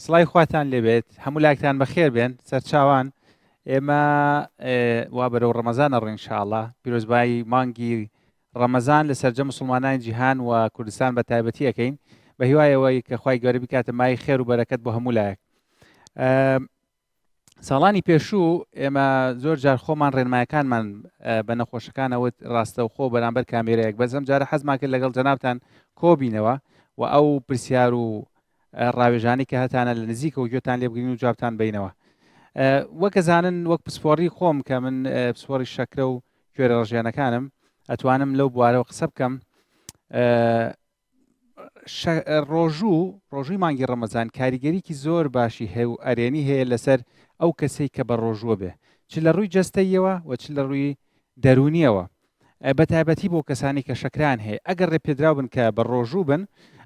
سڵی خواتان لێبێت هەموو لاکتان بەخێر بێن سەرچاوان ئێمە وا بەرەو ڕەمەزانە ڕینشاءله پیرۆزبایی مانگی ڕەمەزان لە سەررجە مسلمانانی جیهان و کوردستان بە تایبەتی یەکەین بە هیوایەوەی کە خی گەورە بکاتە مای خێر و بەرەکەت بۆ هەموو لایەک ساڵانی پێشوو ئێمە زۆر جار خۆمان ڕێنمایەکانمان بە نەخۆشەکانەوە ڕاستەوخۆ بەرامبەر کامێرەیەک بەزم جارە حەزمان کرد لەگەڵ جەنابان کۆبینەوە و ئەو پرسیار و ڕاوێژانی کە هەتانە لە نزیکەوە گوێتان لێبگرین و جوابتان بینەوە وەکەزانن وەک پسپۆری خۆم کە من پسپۆری شەکرە و کوێرە ڕژێنەکانم ئەتوانم لەو بوارەوە قسە بکەم ڕۆژوو ڕۆژووی مانگی ڕەمەزان کاریگەریکی زۆر باشی هەیە و ئەرێنی هەیە لەسەر ئەو کەسەی کە بە ڕۆژووە بێ چ لە ڕووی جەستەیەوە و چ لە ڕووی دەرونیەوە بە تایبەتی بۆ کەسانی کە شەکران هەیە ئەگەر ڕێ پێدراو بن کە بە ڕۆژوو بن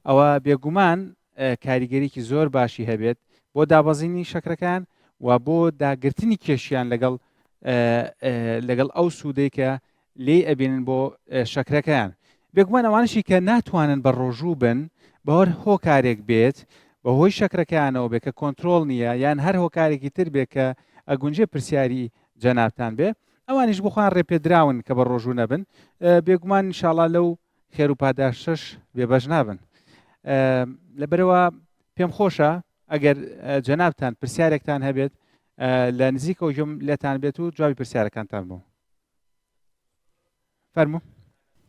ئەوە بێگومان کاریگەریکی زۆر باشی هەبێت بۆ دابەزینی شەکرەکان و بۆ داگرتنی کێشیان لەگەڵ لەگەڵ ئەو سوودەی کە لێی ئەبینن بۆ شەکرەکەیان بێگومان ئەوانەشی کە ناتوانن بەڕۆژوو بن بەهۆر هۆکارێک بێت بەهۆی شەکرەکەیانەوە بێ کە کۆنترۆڵ نییە یان هەر هۆکارێکی تر بێ کە ئەگونجێ پرسیاری جەنابتان بێ ئەوانیش بخۆیان ڕێپێدراون کە بە ڕۆژوو نەبن بێگومان انشاءاللە لەو خێر و پاداشتەش بێبەش نابن لەبەرەوە پێم خۆشە ئەگەر جەنابتان پرسیارێکتان هەبێت لە نزیکەوە ژم لێتان بێت و جوابی پرسیارەکانتان بوو فەرموو.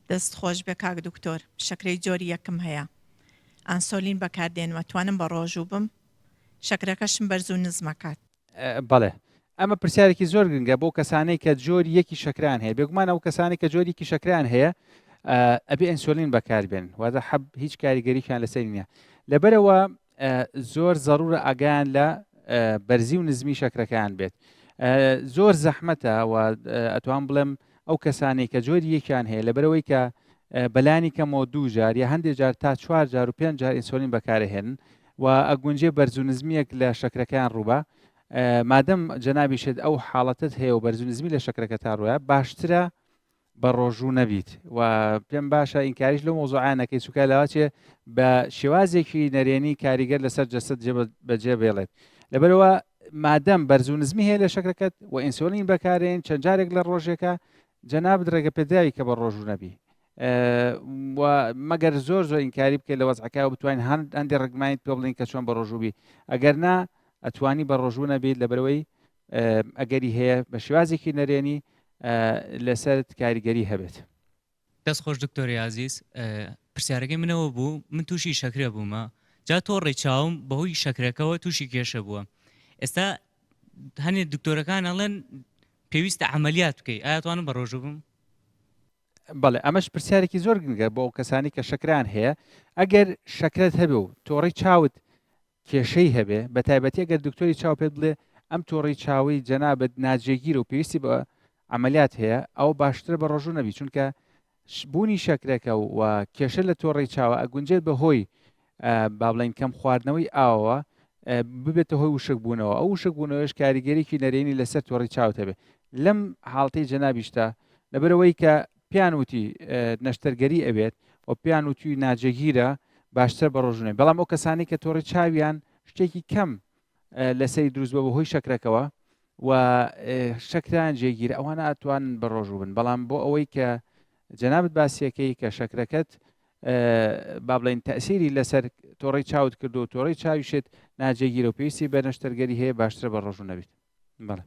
دەست خۆش بێ کاک دکتۆر شەکرەی جۆری یەکم هەیە ئانسۆلین بەکاردێنم ئەتوانم بە ڕۆژوو بم شەکرەکەشم بەرزو نزم ئەکات. بەڵێ ئەمە پرسیارێکی زۆر گرنگە بۆ کەسانەی کە جۆری یەکی شەکرەیان هەیە بێگومان ئەو کەسانی کە جۆری یەکی شەکرەیان هەیە ئەبێ ئەنسۆلین بەکاربێن واتە حەب هیچ کاریگەریشیان لەسەری نییە لەبەرەوە زۆر زەرورە ئاگایان لە بەرزی و نزمی شەکرەکەیان بێت زۆر زەحمەتە و ئەتوان بڵێم ئەو کەسانی کە جۆری یەکیان هەیە لەبەرەوەی کە بەلانی کەمەوە دوو جار یا هەندێک جار تا چوار جار و پێنج جار ئینسۆلین بەکارهێنن و ئەگونجێ بەرز و نزمیەک لە شەکرەکەیان ڕووبە مادەم جەنابیشت ئەو حاڵەتت هەیە و بەرزنزمی لە شەکرەکە تا ڕوە باشترە بەڕۆژوو نەبیت و پێم باشە ئینکاریش لەو مۆزوعیان نەکەی چووکە لاواچێ بە شێوازێکی نەرێنی کاریگەر لەسەر جەسەت جێ بەجێ بێڵێت لەبەرەوە مادەم بەرزو نزمی هەیە لە شەکرەکەت و ئینسۆلین بەکارێن چەند جارێک لە ڕۆژێکە جەنابت ڕێگە پێداوی کە بە ڕۆژوو نەبی مەگەر زۆر زۆر ئینکاری بکە لە وەزعەکە و بتوانین هەند ئەندی ڕگمانیت پێ بڵین کە چۆن بە ڕۆژووبی ئەگەر نا ئەتوانی بە ڕۆژوو نەبیت لە بەرەوەی ئەگەری هەیە بە شێوازێکی نەرێنی لەسەرت کاریگەری هەبێت. دەست خۆش دکتۆری ئازیز پرسیارەکەی من ئەوە بوو من تووشی شەکرە بوومە جا تۆڕی چاوم بەهۆی شەکرەکەەوە تووشی کێشە بووە ئێستا هەنێ دکتۆرەکان ئەڵێن پێویستە عملیات بکەیت ئاتوانم بە ڕۆژوو بم بەڵێ ئەمەش پرسیارێکی زۆر گرنگە بۆ ئەو کەسانی کە شەکران هەیە ئەگەر شەکرەت هەبێ و تۆڕی چاوت کێشەی هەبێ بە تایبەتی ئەگەر دکتۆری چاو پێت بڵێ ئەم تۆڕی چاوەی جەنابت ناجێگیرە و پێویستی بە عملیات هەیە ئەوە باشترە بە ڕۆژوو نەبی چونکە بوونی شەکرەکە و کێشە لە تۆڕی چاوە ئەگونجێت بە هۆی با بڵین کەم خواردنەوەی ئاوەوە ببێتە هۆی وشک بوونەوە ئەو وشک بوونەوەش کاریگەریکی نەرێنی لەسەر تۆڕی چاوت هەبێ لەم حاڵتەی جەنابیشتا لەبەرەوەی کە پێیان وتی نەشتەرگەری ئەوێت و پێیان وتوی ناجێگیرە باشترە بە ڕۆژونێ بەڵام ئەو کەسانی کە تۆڕی چاویان شتێکی کەم لەسەری دروست بە بەهۆی شەکرەکەەوە و شەکران جێگیرە ئەوانە ئەتوان بە ڕۆژوو بن بەڵام بۆ ئەوەی کە جەنابەت باسیەکەی کە شەکرەکەت با بڵین تەسیری لەسەر تۆڕی چاوت کردو و تۆڕی چاویشت ناجێگیرە و پێویستی بە نەشتەرگەری هەیە باشترە بە ڕۆژوو نەبیت بەڵێ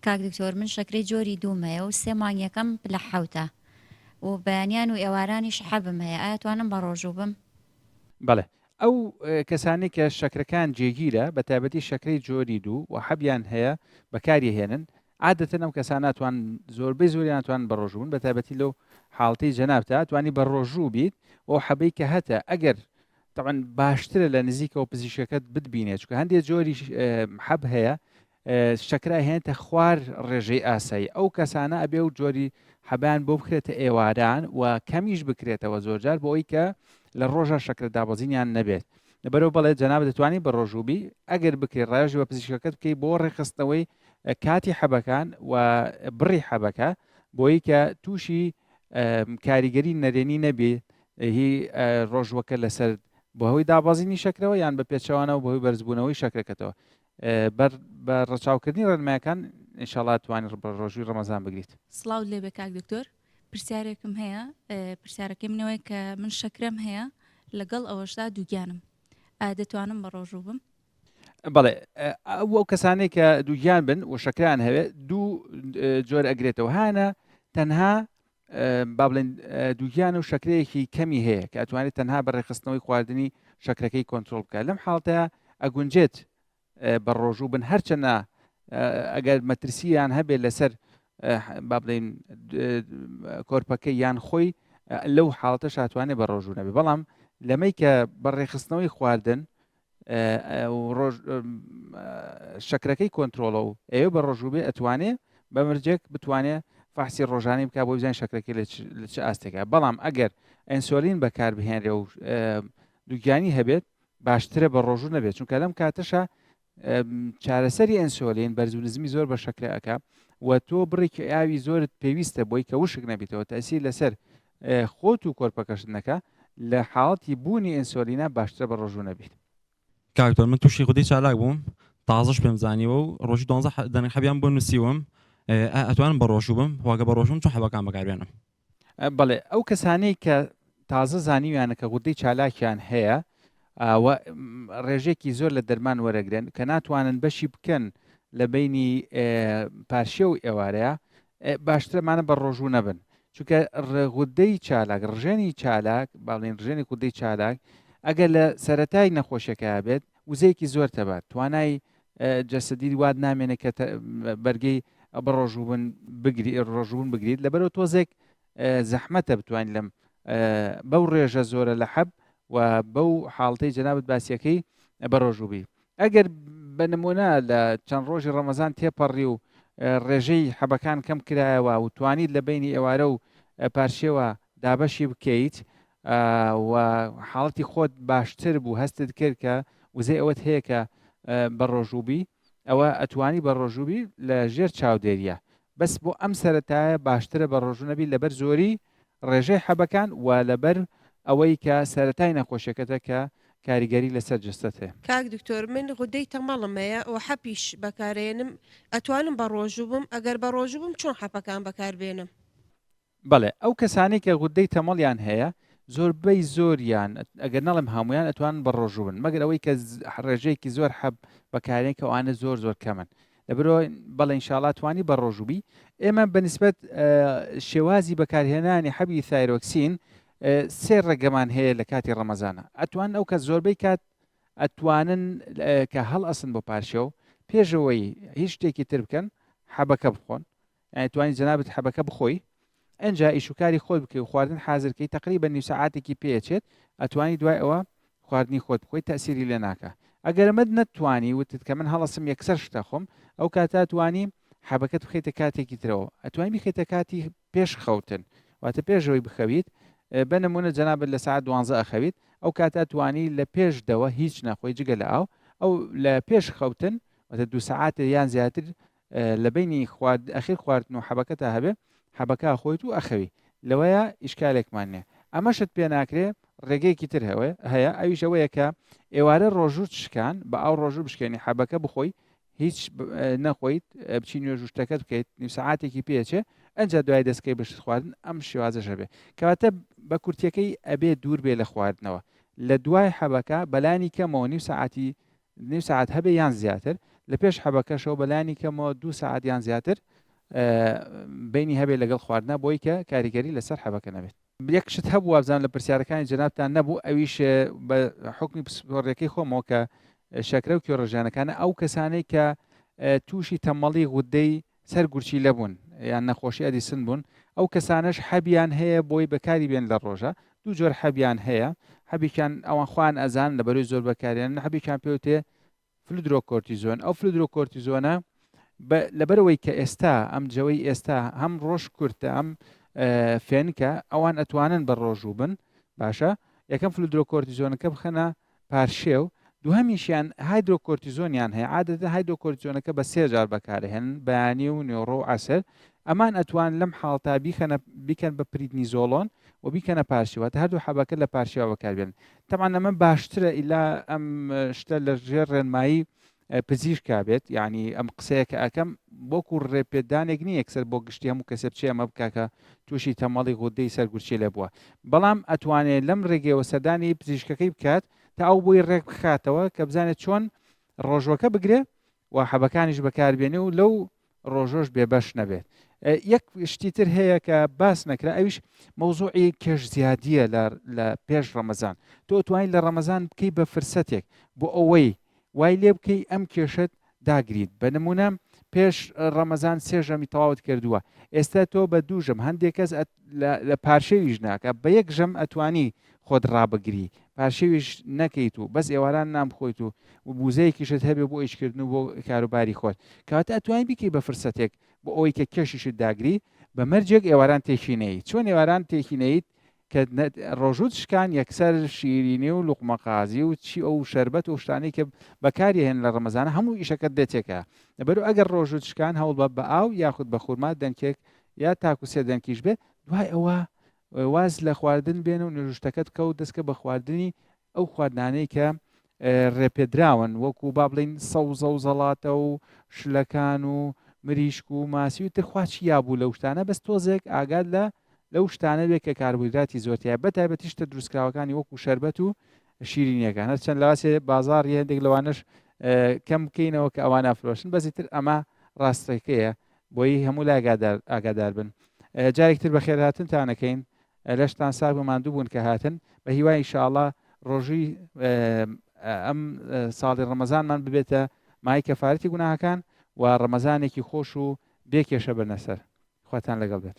کاک دکتۆر من شەکرەی جۆری دووم هەیە و سێ مانگیەکەم پلە حەوتە و بەیانیان و ئێوارانیش حەبم هەیە ئایا توانم بەڕۆژوو بم؟ بەڵێ ئەو کەسانەی کە شەکرەکان جێگیرە بەتایبەتی شەکرەی جۆری دوو و حەبیان هەیە بەکاری هێنن عادەتەن ئەم کەسان ناتوان زۆربەی زۆری ناتوان بەڕۆژوو بن بەتایبەتی لەو حاڵتی جەنابتا توانی بە ڕۆژوو بیت و حەبەی کە هەتە ئەگەر طبعا باشترە لە نزیکەوە پزیشکەکەت بتبینێت چکە هەندێک جۆری حەب هەیە شەکرە ئەهێنێتە خوار ڕێژەی ئاسایی ئەو کەسانە ئەبێ و جۆری حەبان بۆ بکرێتە ئێواران و کەمیش بکرێتەوە زۆرجار بۆ ئەوی کە لە ڕۆژە شەکرە دابەزینیان نەبێت لەبەرەوە بەڵێ جەناب دەتوانانی بە ڕۆژوبی ئەگەر بکرێت ڕێژی بە پزیشکەکەت بکەی بۆ ڕێخستنەوەی کاتی حەبەکان و بڕی حەبەکە بۆی کە تووشی کاریگەری نەرێنی نەبێ هی ڕۆژوەکە لەسەر بەهۆی دابازینی شەکرەوە یان بە پێچوانەوە بەهۆی بەرزبوونەوەی شەکرەکەتەوە بەر بە ڕەچاوکردنی ڕێنمایەکان ئینشاڵا توانی ڕبڕۆژوی ڕەمەزان بگریت سلااو لێبێ کاک دکتۆر پرسیارێکم هەیە پرسیارەکەی منەوەی کە من شەکرم هەیە لەگەڵ ئەوەشدا دووگیانم دەتوانم بە ڕۆژوو بم بەڵێ ئەو کەسانێک کە دووگیان بن و شەکران هەوێت دوو جۆر ئەگرێتەوە هاانە تەنها با بڵێن دووگیان و شەکرەیەکی کەمی هەیە کە ئەتوانێت تەنها بە ڕێخستنەوەی خواردنی شەکرەکەی کۆنتترۆل بکە لەم حاڵتەیە ئەگونجێت بە ڕۆژوو بن هەرچەنە ئەگەر مەترسییان هەبێت لەسەر با بڵین کۆرپەکە یان خۆی لەو حاڵتە شاتوانێ بە ڕۆژوو نەبێ بەڵام لەمەی کە بە ڕێخستنەوەی خواردن شەکرەکەی کۆنترۆڵە و ئەوێ بە ڕۆژووبێ ئەتوانێ بە مرجێک بتوانێ فحسی ڕۆژانی بک بۆ بزانین شەکرەکەی لە چ ئاستێکە بەڵام ئەگەر ئەنسۆلین بەکاربهێنرێ و دوگیانی هەبێت باشترە بە ڕۆژوو نەبێت چونکە لەم کاتەشە چارەسەری ئەنسۆلین بەرزو نزمی زۆر بە شەکرەکە و تۆ بڕێکی ئاوی زۆرت پێویستە بۆی کە وشک نەبیتەوە تاسی لەسەر خۆت و کۆرپەکەشت نەکە لە حاڵەتی بوونی ئینسۆلینا باشترە بە ڕۆژوو نەبیت. کاک دکتۆر من توشی غودەی چالاک بووم تازەش پێم زانیوە و ڕۆژی دوانزە دەنک حەبیان بۆ نوسیوم ئایا ئەتوانم بەڕۆژوو بم وە گەر بەڕۆژوو بم چۆن حەبەکان بەکار بێنم. بەڵێ ئەو کەسانەی کە تازە زانیویانە کە غودەی چالاکیان هەیە و ڕێژێکی زۆر لە دەرمان وەرەگرن کە ناتوانن بەشی بکەن لە بینی پارشێو ئێوارەیە باشترە مانە بە ڕۆژوو نەبن چونکە غودەی چالاک ڕژێنی چالاک باڵێن ڕژێنی غودەی چالاک ئەگەر لە سەتای نەخۆشیەکە بێت وزەیەکی زۆر تەبات توانای جەسەدی واد نامێنێت کە بەرگەی بە ڕۆژوبن بگری ڕۆژبوون بگریت لەبەرەوە تۆزێک زەحمەتە بتوانین لەم بەو ڕێژە زۆرە لە حەب و بەو حاڵتەی جەنابەت باسیەکەی بە ڕۆژوبی ئەگەر بە نموونە لە چەند ڕۆژی ڕەمەزان تێپەڕی و ڕێژەی حەبەکان کەم کرایەوە و توانیت لە بینی ئێوارە و پارشێوە دابەشی بکەیت و حاڵەتی خۆت باشتر بوو هەستت کرد کە وزەی ئەوەت هەیە کە بە ڕۆژووبی ئەوە ئەتوانی بە ڕۆژووبی لە ژێر چاودێریە بەس بۆ ئەم سەرەتایە باشترە بە ڕۆژوو نەبی لەبەر زۆری ڕێژەی حەبەکان و لەبەر ئەوەی کە سەرەتای نەخۆشیەکەتە کە کاریگەری لەسەر جەستەت هەیە. کاک دکتۆر من غودەی تەمەڵم هەیە وە حەپیش بەکارەیەنم ئەتوانم بە ڕۆژوو بم ئەگەر بە ڕۆژوو بم چۆن حەپەکان بەکار بێنم. بەڵێ ئەو کەسانەی کە غودەی تەمەڵیان هەیە زۆربەی زۆریان ئەگەر نەڵێم هەموویان ئەتوانن بە ڕۆژوو بن مەگەر ئەوەی کە ڕێژەیەکی زۆر حەب بەکارێن کە ئەوانە زۆر زۆر کەمن دەبرۆ بەڵێ انشاءاللە توانی بەڕۆژو بی ئێمە بە نسبەت شێوازی بەکارهێنانی حەبی ثایرۆکسین سێ ڕێگەمان هەیە لە کاتی ڕەمەزانە ئەتوان ئەو کە زۆربەی کات ئەتوانن کە هەڵ ئەسن بۆ پارشێو پێشەوەی هیچ شتێکی تر بکەن حەبەکە بخۆن یانی توانی جەنابت حەبەکە بخۆی ئەنجا ئیش و کاری خۆت بکەی و خواردن حازر کەی تەقریبەن نیو سەعاتێکی پێ ئەچێت ئەتوانی دوای ئەوە خواردنی خۆت بخۆی تەئسیری لێ ناکا ئەگەر ئەمەت نەتتوانی وتت کە من هەڵەسم یەکسەر شت ئەخۆم ئەو کاتە ئەتوانی حەبەکەت بخەیتە کاتێکی ترەوە ئەتوانی بیخەیتە کاتی پێش خەوتن واتە پێشەوەی بخەویت بە نموونە جەنابت لە سەعات دوانزە ئەخەویت ئەو کاتە ئەتوانی لە پێش دەوە هیچ نەخۆی جگە لە ئاو ئەو لە پێش خەوتن واتە دوو سەعاتێ یان زیاتر لە بەینی خوارد ئەخیر خواردن و حەبەکە تا هەبێ حەبەکە ئەخۆیت و ئەخەوی لەوەیە ئیشکالێکمان نیە ئەمەشت پێ ناکرێ ڕێگەیەکی تر هەوێ هەیە ئەویش ئەوەیە کە ئێوارە ڕۆژوت شکان بە ئاو ڕۆژوو بشکێنی حەبەکە بخۆی هیچ نەخۆیت بچی نوێژ و شتەکەت بکەیت نیم سەعاتێکی پێچێ ئەجا دوای دەستکەی بەشت خواردن ئەم شێوازەشە بێ کەواتە بە کورتەکەی ئەبێ دوور بێ لە خواردنەوە لە دوای حەبەکە بەلانی کەمەوە نیم سەعاتی نیو سەعات هەبێ یان زیاتر، لە پێش حەبەکەشەوە بە لانی کەمەوە دوو سەعات یان زیاتر بەینی هەبێ لەگەڵ خواردنا بۆی کە کاریگەری لەسەر حەبەکە نەبێت. یەک شت هەبوو وابزان لە پرسیارەکانی جەنابتان نەبوو ئەویش بە حکمی پسپۆڕیەکەی خۆمەوە کە شەکرە و کێڕژیانەکانە ئەو کەسانەی کە تووشی تەمەڵی غودەی سەر گورچیلە بوون یان نەخۆشی ئەدیسن بوون، ئەو کەسانەش حەبیان هەیە بۆی بەکاری بێن لە ڕۆژە، دوو جۆر حەبیان هەیە، حەبێکیان ئەوان خۆیان ئەزانن لە بەرۆی زۆر بەکاریانن، حەبێکیان پێوتێ فلودرۆکۆرتیزۆن، ئەو فلودرۆکۆرتیزۆنە لەبەرەوەی کە ئێستا ئەم جەوەی ئێستا هەم ڕۆژ کورتە ئەم فێنکە ئەوان ئەتوانن بە ڕۆژوو بن باشە یەکەم فلودرۆکۆرتیزۆنەکە بخەنە پارشێو، دووهەمیشیان هایدرۆکۆرتیزۆنیان هەیە، عادەتەن هایدرۆکۆرتیزۆنەکە بە سێ جار بەکارئەهێنن، بەیانی و نێوڕۆ و عەسر، ئەمان ئەتوان لەم حاڵەتە بیکەنە بیکەن بە پریدنیزۆڵۆن و بیکەنە پارشێو، واتە هەردوو حەبەکە لە پارشێوا بەکاربێنن، تەبعەن ئەمە باشترە ئیلا ئەم شتە لەژێر ڕێنمایی پزیشک بێت یعنی ئەم قسەیە کە ئەکەم بۆکو ڕێپێدانێک نیە یەکسەر بۆ گشتی هەموو کەسێ بچێ ئەمە بکە کە تووشی تەمەڵی غودەی سەرگورچی لێ بووە بەڵام ئەتوانێت لەم ڕێگەیەوە سەردانی پزیشکەکەی بکات تا ئەو بۆی ڕێک بخاتەوە کە بزانێت چۆن ڕۆژوەکە بگرێ و حەبەکانیش بەکاربێنێ و لەو ڕۆژۆش بێ بەش نەبێت یەک شتی تر هەیە کە باس نەکرا ئەویش مەوزوعی کێش زیادیە لە پێش ڕەمەزان تۆ توانین لە ڕەمەزان بکەی بە فرسەتێک بۆ ئەوەی وای لێ بکەی ئەم کێشت داگریت بە نمونە پێش ڕەمەزان سێژەمی تەواوت کردووە ئێستا تۆ بە دووژم هەندێک کەس لە پارشەویش ناکە بە یەک ژەم ئەتوانی خۆت ڕابگری پارشێویش نەکەیت و بەس ئێواران نان بخۆیت و وبوزەیەکیشت هەبێ بۆ ئیشکردن و بۆ کاروباری خۆت کەواتە ئەتوانی بیکەی بە فرسەتێک بۆ ئەوەی کە کێشیشت داگری بە مەرجێک ئێواران تێکی نەیت چۆن ئێواران تێکی نەیت کە ڕۆژوت شکان یەکسەر شیرینی و لوقمەقازی و چی ئەو شربەت و شتانی کە بەکاری هێن لە ڕەمەزانە هەموو ئیشەکەت دێتێکە لەبەرو ئەگەر ڕۆژوت شکان هەوڵ بە بە ئاو یاخود بە خورما دەنکێک یا تاکو سێ دەنکیش بێ دوای ئەوە واز لە خواردن بێنە و نەژوشتەکە بکە و دەستکە بە خواردنی ئەو خواردنانەی کە ڕێپێدراون وەکو با بڵین سەوزە و زەڵاتە و شلەکان و مریشک و ماسی و ترخواچی یابوو لەو شتانە بەس تۆزێک ئاگاد لە لەو شتانە بێ کە کاربویدراتی زۆرتیە بە تایبەتی شتە دروستکراوەکانی وەکو شربەت و شیرینیەکان هەر چەند لەواسێ بازار هەندێک لەوانش کەم بکەینەوە کە ئەوان ئەفرۆشن بەزیتر ئەمە ڕاستەکەیە بۆیی هەموو لا گادار ئاگادار بن جارێک تر بەخێرهاتنتان ئەکەین لەشتان ساغ بە ماندوو بوون کە هاتن بە هیوای ئینشاءاللە ڕۆژووی ئەم ساڵی ڕەمەزانمان ببێتە مای کەفارەتی گوناهەکان و ڕەمەزانێکی خۆش و بێ کێشە بەرنە سەر خواتان لەگەڵ بێت.